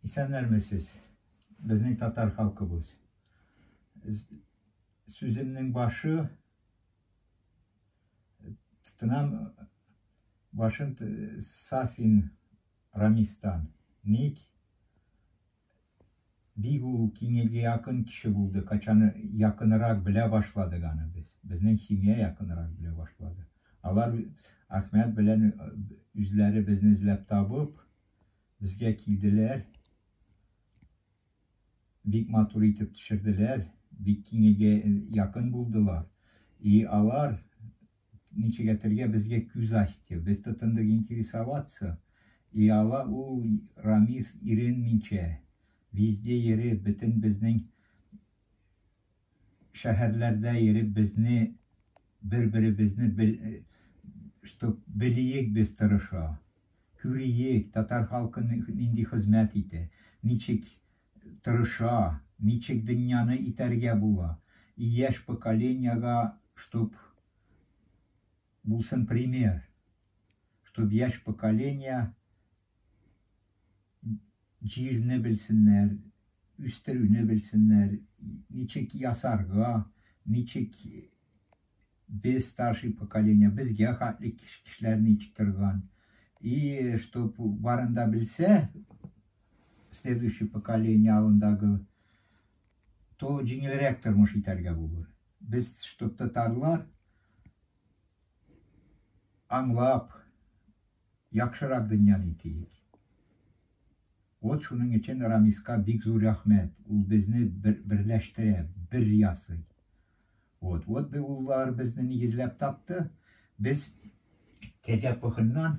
Исәннәрмесез, безнең татар халкыбыз. Сүземнең башы тынам башын Сафин Рамистан. Ник? Бик ул киңелгә якын кеше булды, качан якынырак белә башладык аны без, безнең семья якынырак белә башлады. Алар Әхмәт белән үзләре безне эзләп табып, безгә килделәр, бик матур итеп төшерделәр, бик киңелгә якын булдылар. И алар Ничек әтергә безгә күз ачты. Без тотындык интересоваться. И ала ул Рамис иренминчә, везде йөреп, бөтен безнең шәһәрләрдә йөреп безне бер-беребезне бел, чтоб белиек без тырыша. Күриек, татар халкы нинди хезмәт итә, ничек тырыша, ничек дөньяны итәргә була, и яшь поколениега чтоб булсын пример, чтоб яшь поколение җирне белсеннәр, үстерүне белсеннәр, ничек ясарга, ничек без старший поколение, безгә хәтле кешеләр ничек торган, и чтоб барында белсә, следующий поколение алдындагы то җиңелрәк тормыш итәргә булыр. Без чтоб татарлар аңлап яхшырак дөньяны итик. Вот шуның өчен Рамиска бик зур рәхмәт. Ул безне бер, берләштерә, бер ясый. Вот, вот бу уллар безне нигезләп тапты. Без Кәҗә Пыхыннан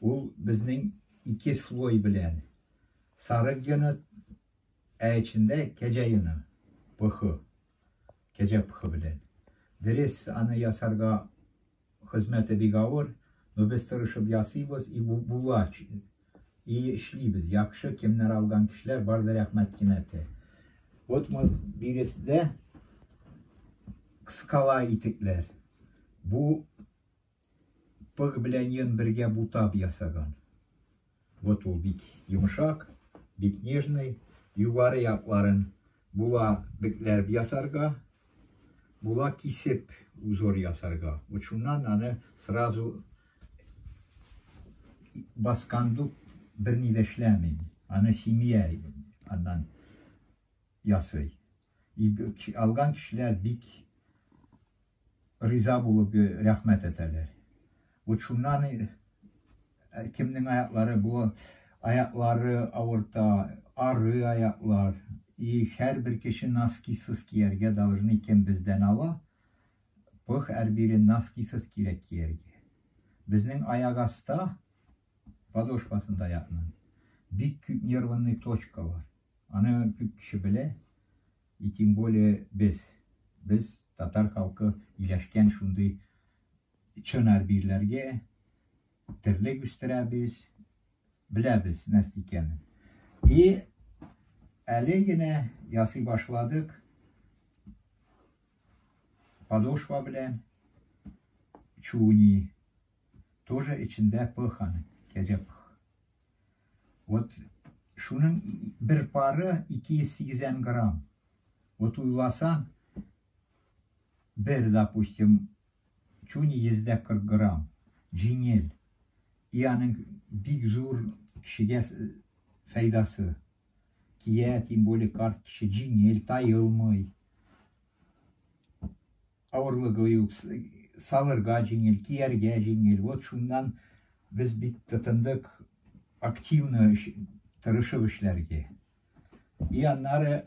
Ул безнең ике слой белән сарык йоны, ә эчендә кәҗә йоны, пыхы, кәҗә пыхы белән. Дөрес, аны ясарга хезмәте бик авыр, но без тырышып ясыйбыз и була, и эшлибез. Яхшы, кемнәр алган кешеләр бар да рәхмәт кенә әйтә. Вот мы биреседә кыскала итекләр. Бу Пык белән йон бергә бутап ясаган. Вот ул бик йомшак, бик нежный. Югары якларын була бетләр ясарга, була кисеп узор ясарга. Вот шуннан аны сразу баскандук берни дә эшләмим. Аны семья аннан ясый. И алган кешеләр бик риза булып э, рәхмәт әйтәләр. Вот шуннан э, кемнең аяклары бу аяклары авырта, ары аяклар. И һәрбер кеше носкисыз кияргә должны кем бездән ала? Пых һәрбире носкисыз кирәк кияргә. Безнең аяк аста подошвасында ятның. Бик күп нервный точка бар. Аны күп кеше белә, и тем более без. Без татар халкы иләшкән шундый чын арбирләргә терлек үстерәбез, беләбез нәрсә икәнен. И әле генә ясый башладык подошва белән чуни Тоже эчендә пых аның, кәҗә пых. Вот шуның бер пары 280 грамм. Вот уйласаң, бер, допустим, чуни 140 грамм, җиңел. И аның бик зур кешегә файдасы. Кия, тем более карт кеше җиңел, тайылмый. Авырлыгы юк, салырга җиңел, кияргә җиңел. Вот шуннан без бик тотындык активно тырышып эшләргә. И аннары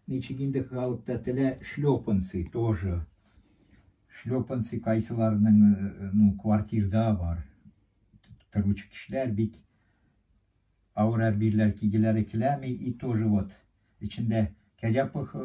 ничек инде халыкта телә шлепанцы тоже. Шлепанцы кайсыларның э, ну, квартирда бар. Торучы кешеләр бик авыр әрбирләр кигеләре келәми и тоже вот ичендә кәҗә пыхы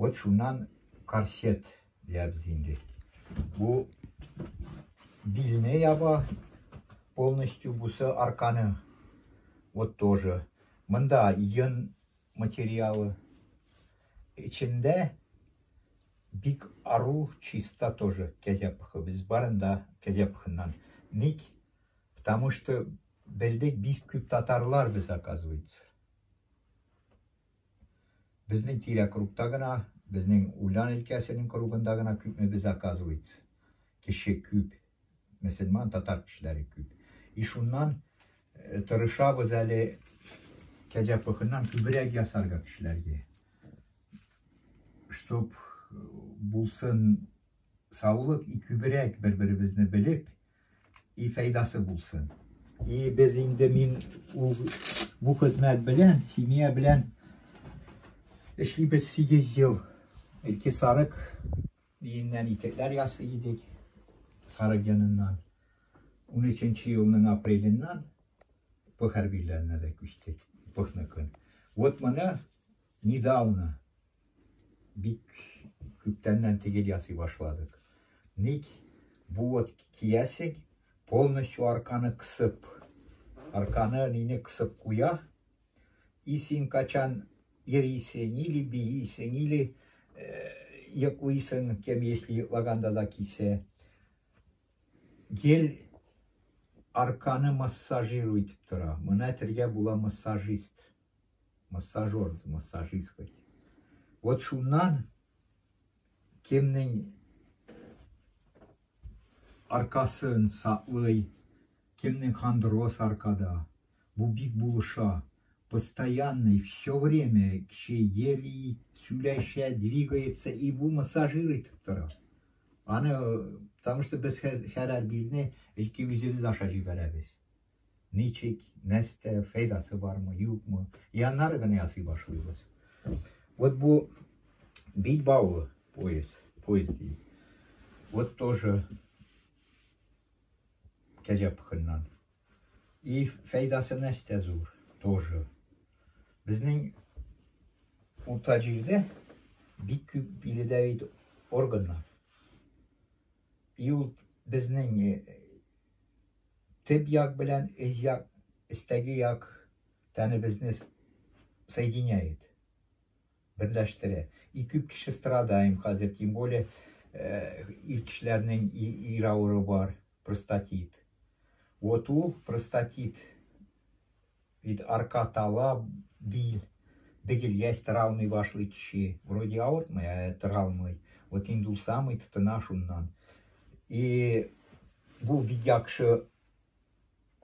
Вот шуннан корсет диябез инде. Бу билне яба полностью бусы арканы. Вот тоже. Монда йон материалы. Эчендә бик ару чиста тоже кәзә пыхы. Без барында кәзә пыхыннан. Ник? Потому что белдек бик күп татарлар без оказывается. Безнең тирә кругта гына, безнең Улян өлкәсенең кругында гына күпме без оказывается. Кеше күп. Мөселман, татар кешеләре күп. И шуннан тырышабыз әле кәҗә пыхыннан күбрәк ясарга кешеләргә. Чтоб булсын саулык и күбрәк бер-беребезне белеп, И файдасы булсын. И без инде мин ул бу хезмәт белән, семья белән эшлибез 8 ел. Илки сарык иеннән итекләр ясый идек. Сарык яныннан. 13 елның апреленнән бу хәрбиләренә дә күчтек. Бухны көн. Вот моны Недавно, бик күптәннән тигел ясый башладык. Ник бу вот киясең, полностью арканы кысып, арканы нине кысып куя, и син качан ирисең, или биисең, или йоклыйсың, кем если йоклаганда да кисә. Гел арканы массажиру итеп тора. Мына тиргә була массажист. массажер, массажист бит. Вот шуннан кемнең аркасын саклый, кемнең хондроз аркада. Бу бик булыша. Постоянный, все время кеше йөри, сөйләшә, двигается, и бу массажир итеп тора. Аны, потому что без хәрәр билне илким үзебез аша җибәрәбез. ничек, нәстә, фәйдасы бармы, юкмы, и аннары гына ясый башлыйбыз. Вот бу бит бавы пояс, пояс дейді. Вот тоже кәҗә пыхыннан. И фәйдасы нәстә зур, тоже. Безнең урта җирдә бик күп биредә бит органнар. И ул безнең Теп як белән эз як, эстәге як тәнебезне соединяет, берләштерә. Ике кеше страдаем хәзер, тем более э, ир кешеләрнең ир авыру бар, простатит. Вот ул простатит Бит, арка, тала, бил, бегелгәч, тора алмый башлый кеше. Вроде авыртмый, ә тора алмый. Вот инде ул самый тотына шуннан. И бу бик яхшы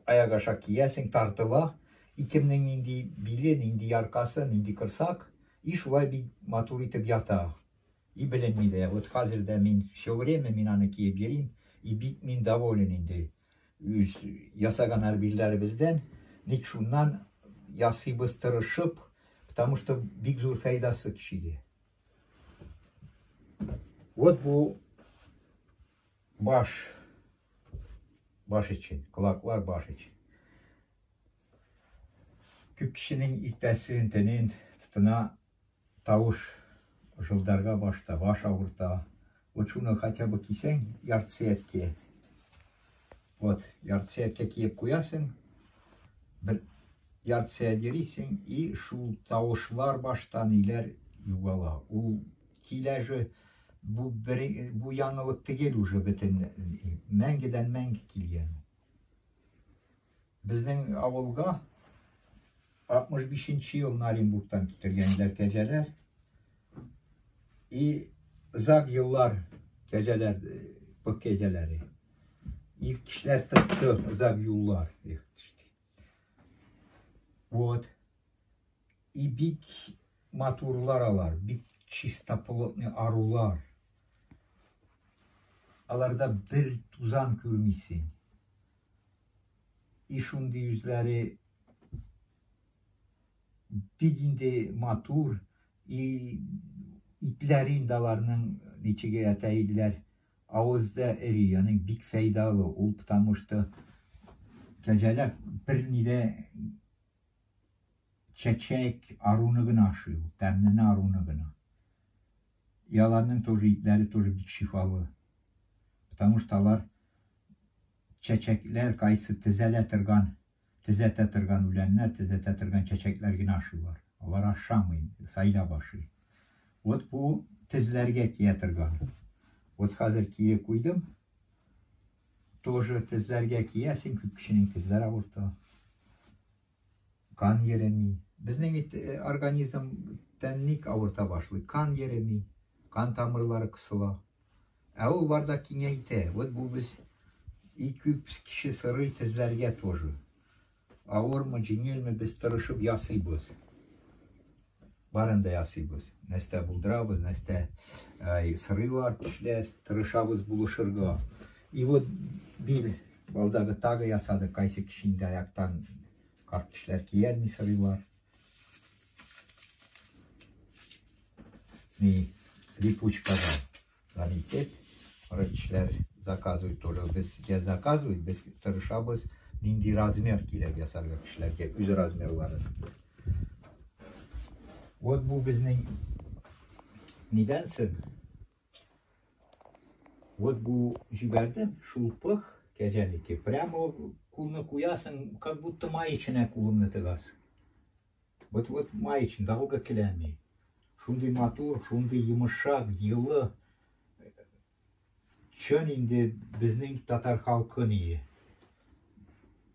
аяк аша киясең, тартыла. И кемнең нинди биле, нинди яркасы, нинди кырсак. И шулай бик матур итеп ята. И белем ни дә, вот хәзер дә мин все время мин аны киеп йөрим, и бик мин доволен инде үз ясаган арбилләребездән, ник шуннан ясыйбыз тырышып, потому что бик зур фәйдасы кешегә. Вот бу баш баш өчен, колаклар баш өчен. Күп кешенең иртәсен, төнен тотына Тавыш җылдарга башта, баш авырта. Вот шуны хотя бы кисәң, яртысы әткә. Вот, яртысы әткә киеп куясың. Бер яртысы әдерисең, и шул тавышлар башта ниләр югала. Ул килә же бу бер бу яңалык түгел уже бөтен мәңгедән мәңге килгән. Безнең авылга 65 нче елны Оренбургтан китергәннәр кәҗәләр. И зак еллар кәҗәләр, пык кәҗәләре. Их кишләр тыкты, зак юллар. Их, вот. И бик матурлар алар, бик чистоплотный арулар. Аларда бер тузан күрмисең. и шундый үзләре бик инде матур и итләр инде аларның ничек әйтә иделәр авызда эри яни бик файдалы ул потому что кәҗәләр берни дә чәчәк аруны гына ашый ул тәмнене аруны гына И аларның тоже итләре тоже бик шифалы. Потому что алар чәчәкләр кайсы тезәлә торган, тезәтә торган үләннәр, тезәтә торган чәчәкләр генә ашыйлар. Алар ашамый, сайлап ашый. Вот бу тезләргә тия торган. Вот хәзер киеп куйдым. Тоже тезләргә кия, син күп кешенең тезләре авырта. Кан йөреми. Безнең бит э, организм тән ник авырта башлый? Кан йөреми, кан тамырлары кысыла. Ә ул барда киңәйтә. Вот бу без ике кеше сырый тезләргә тоже. Авырмы, җиңелме без тырышып ясыйбыз. Барын да ясыйбыз. Нәрсә булдырабыз, нәрсә э, сырыйлар кешеләр, тырышабыз булышырга. И вот бир балдагы тагы ясады, кайсы кеше инде аяктан карт кешеләр киярми сырыйлар. Ни, липучкадан. Дан итеп, врачлар заказывать только без я заказывать без тырышабыз нинди размер кирәк ясарга кешеләргә үз размерларын вот бу безнең нидән соң вот бу җибәрдем шул пых кәҗәнеке прямо кулны куясың как будто маеченә кулыңны тыгасың Вот, вот маечный, далга келәми. Шундый матур, шундый йомышак, йылы. Чын инде безнең татар халкы ние.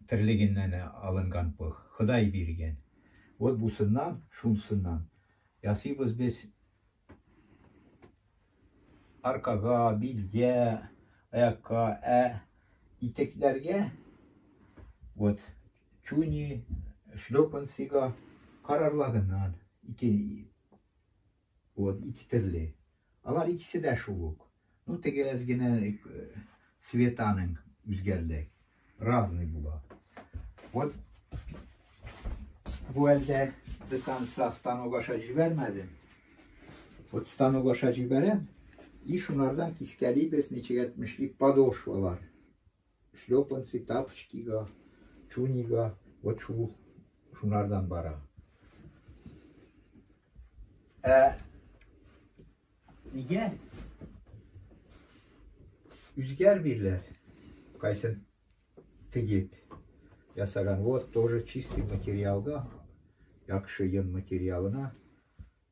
Терлегеннән алынган бу. Ходай биргән. Вот бусыннан, шунсыннан. Ясыйбыз без аркага, билгә, аякка, ә итекләргә вот чуни, шлепанцига карарлагыннан ике вот ике төрле. Алар икесе дә шул ук. Ну теге әз генә светаның үзгәрде. Разный була. Вот бу әлдә до конца станок аша җибәрмәдем. Вот станок аша җибәрәм. И шунардан кискәлибез ничек әйтмешли подошвалар. Шлепанцы, тапочкига, чунига, вот шу, шунардан бара. Ә нигә үзгәр бирелә? Кайсын тегеп ясаган. Вот тоже чистый материалга, яхшы йон материалына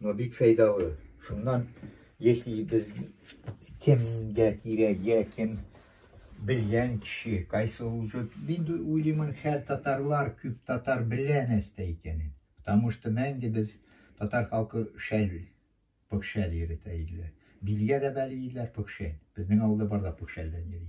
Но бик фәйдалы. Шуннан, если без кемгә кирәк, я кем белгән кеше, кайсы уже бит уйлыймын, һәр татарлар, күп татар белә нәрсә икәнен. Потому что мәңге без татар халкы шәл, пөхшәл йөртә иделәр. Билгә дә бәли иделәр пөхшәл. Безнең авылда бар да пөхшәлдән йөри.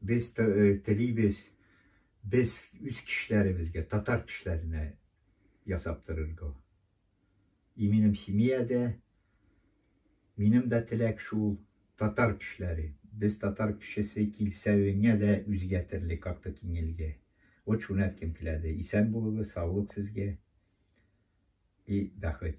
Без э, телибез, без үз кешеләребезгә, татар кешеләренә ясап торырга. И минем семьядә, минем дә теләк шул, татар кешеләре. Без татар кешесе килсәвеңә дә үзгә терле как-то киңелге. Вот шуны әйткем киләде. Исән булыгыз, саулык сезгә и бәхет.